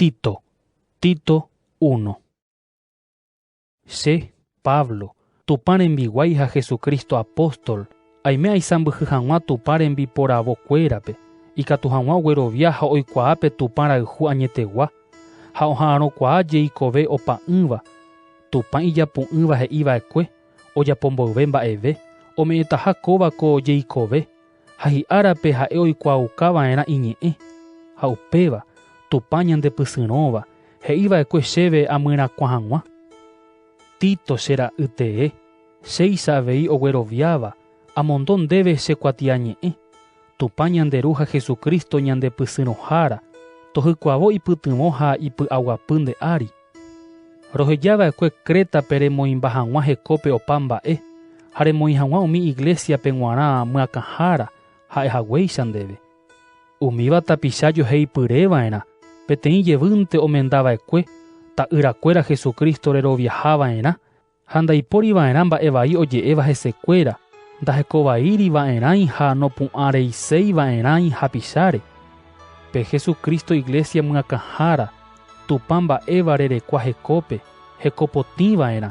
Tito, Tito I. Che, Pablo, Tupã rembiguái ha Jesucristo apóstol, aime aisãmbyhy hag̃ua Tupã rembiporavo kuérape, ikatu hag̃ua oguerovia ha oikuaa pe Tupã rayhu añetegua, ha oha'arõkuaa jeikove opa'ỹva, Tupã ijapu'ỹva he'i vaekue, ojapo mboyve mba'eve, ome'ẽtaha kóva ko jeikove, ha hi'árape ha'e oikuaauka va'erã iñe'ẽ. Ha upéva, Tupã ñandepysyrõva, he'i va'ekue chéve amyrakuã hag̃ua. Tito, che ra'y tee, chéicha avei ogueroviáva, amondo ndéve che kuatiañe'ẽ, Tupã ñande Ru ha Jesucristo ñandepysyrõhára, tohykuavo ipytyvõ ha ipy'aguapy nde ári. Roheja va'ekue Crétape remoĩmba hag̃ua hekópe opa mba'e, ha remoĩ hag̃ua umi iglésiape g̃uarã myakãhára ha'e haguéicha ndéve. Umíva tapicha joheipyre va'erã peteĩ jevýnte omenda va'ekue ta'yrakuéra Jesucristo reroviaha va'erã Ha ndaipóri va'erã mba'e vai oje'éva hesekuéra, ndahekovaíri va'erãi ha nopu'ãreiséi va'erãi hapicháre. Pe Jesucristo iglesia myakãhára, Tupã mba'éva rerekua hekópe, hekopotĩ va'erã,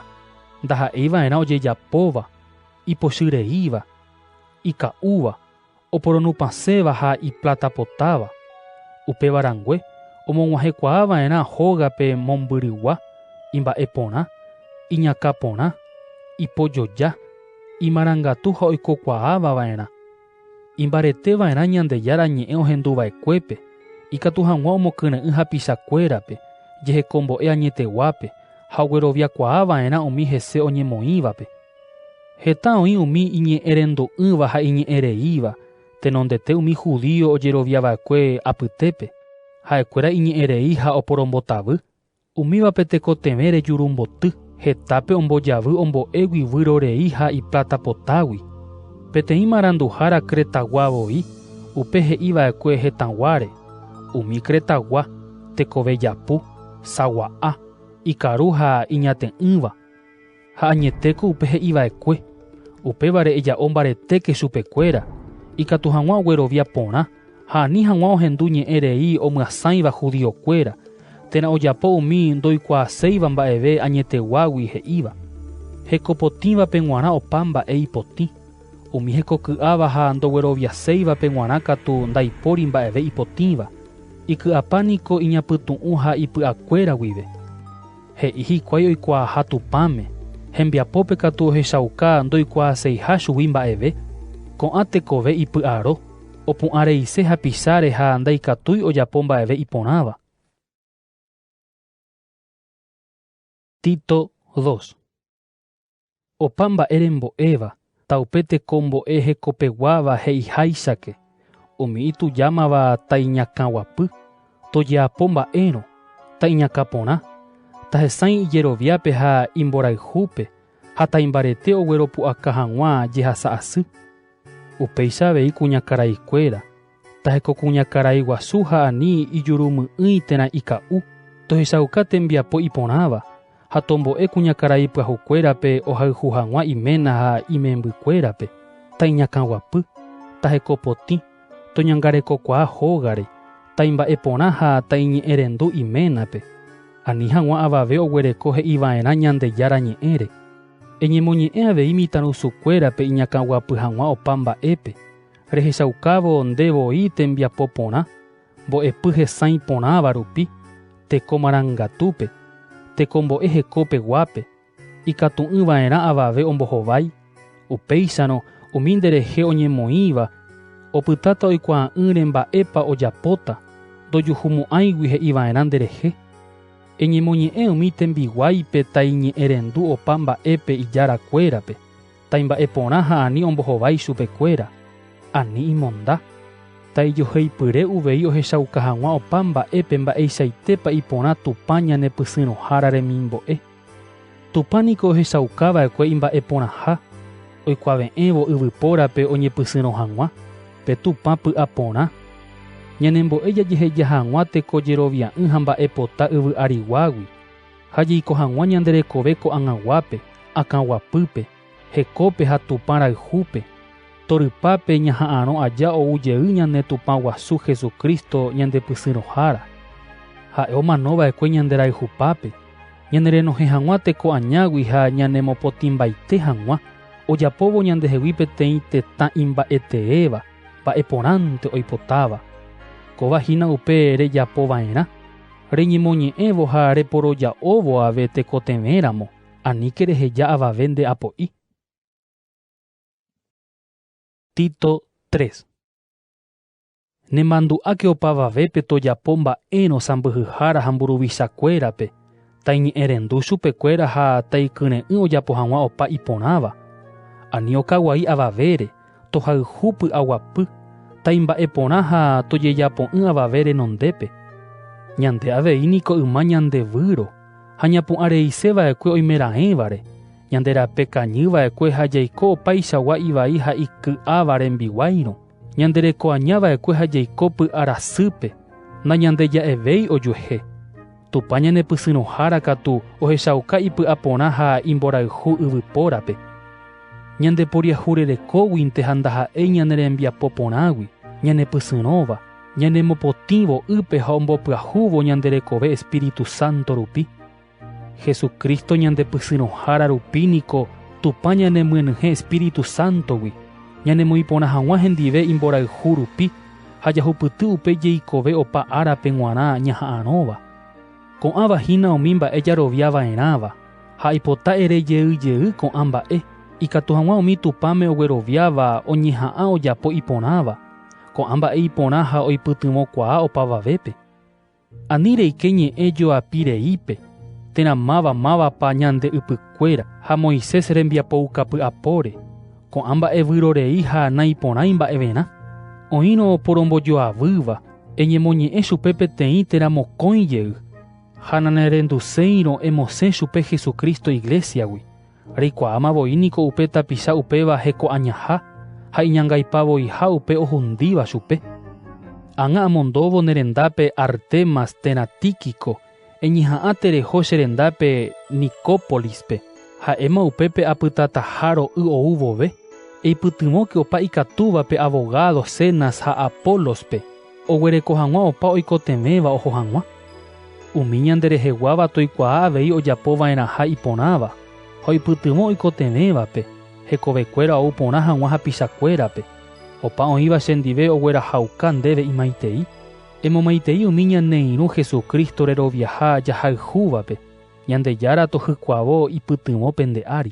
ndaha'éi va'erã ojejapóva, ipochyreíva, ika'úva, oporonupãséva ha ipláta potáva, upéva rangue omog̃uahẽkuaa va'erã hógape mombyrygua, imba'e porã, iñakã porã, ipojoja, imarangatu ha oikokuaáva va'erã. Imbarete va'erã Ñandejára ñe'ẽ ohendu va'ekuépe, ikatu hag̃ua omokyre'ỹ hapicha kuérape, jehekombo'e añeteguápe ha ogueroviakuaa va'erã umi hese oñemoĩvape. Heta oĩ umi iñe'ẽrendo'ỹva ha iñe'ẽreíva tenondete umi judío ojerovia va'ekue apytépe, ha'ekuéra iñe'ẽrei ha oporombotavy. Umívape tekotevẽ rejuru mboty, hetápe ombojavy ombo'égui guyro rei ha ipláta potágui. Peteĩ maranduhára Cretagua voi, upe he'i va'ekue hetãguáre, umi Cretagua, tekove japu, sagua'a, ikaru ha iñate'ỹva. Ha añetéko upe he'i va'ekue, upévare eja'o mbaretéke chupekuéra, ikatu hag̃ua oguerovia porã ha ani hag̃ua ohendu ñe'ẽ rei omyasãiva judío kuéra, térã ojapo umi ndoikuaaséiva mba'eve añeteguágui he'íva. Hekopotĩvape g̃uarã opa mba'e ipotĩ, umi hekoky'áva ha ndogueroviaséivape g̃uarã katu ndaipóri mba'eve ipotĩva, iky'apa niko iñapytu'ũ ha ipy'akuéra guive. He'i hikuái oikuaaha Tupãme, hembiapópe katu ohechauka ndoikuaaseiha chugui mba'eve. Ko'ã tekove ipy'aro, opu'ãreise hapicháre ha ndaikatúi ojapo mba'eve iporãva. Tito dos. Opa mba'e rembo'éva, ta upe tekombo'e hekopeguáva he'iháichake, umi itujámava ta iñakãguapy, tojeapo mba'érõ, ta iñakã porã, ta hesãi ijeroviápe ha imborayhúpe ha ta imbarete ogueropu'aka hag̃ua jehasa asy. Upéicha avei kuñakaraikuéra, Taheko kuñakarai guasu ha ani ijurumy'ỹi térã ika'u, tohechauka tembiapo iporãva, ha tombo'e kuñakarai pyahukuérape ohayhu hag̃ua iména ha imembykuérape, taiñakãguapy, tahekopotĩ, toñangarekokuaa hógare, taimba'eporã ha taiñe'ẽrendu iménape, ani hag̃ua avave oguereko he'iva'erã Ñandejára Ñe'ẽre, Eñemoñe'ẽ avei mitãrusukuérape iñakãguapy hag̃ua opa mba'épe, Rehechaukávo nde voi tembiapo porã, mbo'epy hesãi porãva rupi, teko marangatúpe, tekombo'e hekópe guápe, ikatu'ỹ va'erã avave ombohovái, upéicharõ umi nde rehe oñemoĩva opytáta oikuaa'ỹre mba'épa ojapóta, ndojuhumo'ãigui he'i va'erã nde rehe. Eñemoñe'ẽ umi tembiguáipe taiñe'ẽrendu opa mba'épe ijára kuérape. taimba'e porã ha ani ombohovái ichupe kuéra, ani imonda. Taijoheipyre uvei ohechauka hag̃ua opa mba'épe mba'eichaitépa iporã Tupã ñanepysyrõhára remimbo'e. Tupã niko ohechauka va'ekue imba'e porãha, oikuave'ẽvo yvypórape oñepysyrõ hag̃ua, pe Tupã py'a porã. Ñanembo'e jajeheja hag̃ua teko jerovia'ỹ ha mba'e pota yvy ariguágui. Ha jeiko hag̃ua ñande rekove ko'ag̃aguápe, akãguapýpe, hekópe ha Tupã rayhúpe, torypápe ñaha'arõ aja ou jey ñane Tupã guasu Jesucristo ñandepysyrõhára. Ha'e omano va'ekue ñande rayhupápe, ñane renohẽ hag̃ua teko añágui ha ñanemopotĩmbaite hag̃ua, ojapóvo ñandehegui peteĩ tetã imba'eteéva, mba'e porãnte oipotáva. Kóva hína upe rejapova'erã. Reñemoñe'ẽvo ha reporoja'óvo ave tekotevẽramo, aníke reheja avave nde apo'i. Tito 3. Nemandu'áke opavavépe tojapo mba'érõ sãmbyhyhára ha mburuvichakuérape, Taiñe'ẽrendu chupekuéra ha taikyre'ỹ ojapo hag̃ua opa iporãva. Ani okaguai avavére, tohayhu py'aguapy, taimba'e porã ha tojejapo'ỹ avave renondépe. Ñande avei niko yma ñande výro ha ñapu'ã reise va'ekue oimeraẽvare, ñande rape kañy va'ekue ha jaiko opaichagua ivai ha iky'áva rembiguáirõ, ñande reko aña va'ekue ha jaiko py'a rasýpe, nañandeja'evéi ojuehe. Tupã ñanepysyrõhára katu ohechauka ipy'a porã ha imborayhu yvypórape. Ñandeporiahurerekóguinte ha ndaha'éi ñane rembiapo porãgui, ñanepysyrõva, ñanemopotĩvo ýpe ha ombopyahúvo ñande rekove Espíritu Santo rupi. Jesucristo ñandepysyrõhára rupi niko Tupã ñanemyenyhẽ Espíritu Sántogui, ñanemoĩ porã hag̃ua hendive imborayhu rupi. ha jahupyty upe jeikove opa árape g̃uarã ñaha'arõva. Ko'ãva hína umi mba'e jarovia va'erãva, ha aipota ere jey jey ko'ã mba'e, ikatu hag̃ua umi Tupãme ogueroviáva oñeha'ã ojapo iporãva, ko'ã mba'e iporã ha oipytyvõkuaa opavavépe. Ani reike ñe'ẽ joapi reípe, térã máva mávapa ñande ypykuéra ha Moisés rembiapoukã py'apóre, ko'ã mba'e vyrorei ha naiporãi mba'everã. Oĩrõ oporombojoavýva, eñemoñe'ẽ chupe peteĩ térã mokõi jey, ha nanerenduséirõ emosẽ chupe Jesucristo Iglésiagui. Reikuaáma voi niko upe tapicha upéva heko'añaha ha iñangaipa voiha upe ohundíva chupe. Ág̃a amondóvo ne rendápe Artemas térã Tíquico, eñeha'ã tereho che rendápe Nicópolispe. Ha'éma upépe apytataha ro'y ou vove. Eipytyvõke opa ikatúvape avogádo Zenas ha Apólospe. Oguereko hag̃ua opa oikotevẽva oho hag̃ua. Umi ñandereheguáva toikuaa avei ojapo va'erãha iporãva, ha oipytyvõ oikotevẽvape, hekovekuéra ou porã hag̃ua hapichakuérape, opa oĩva chendive oguerahauka ndéve imaitei. Emomaitei umi ñane irũ Jesucristo reroviaha jahayhúvape, Ñandejára tohykuavo ipytyvõ pende ári.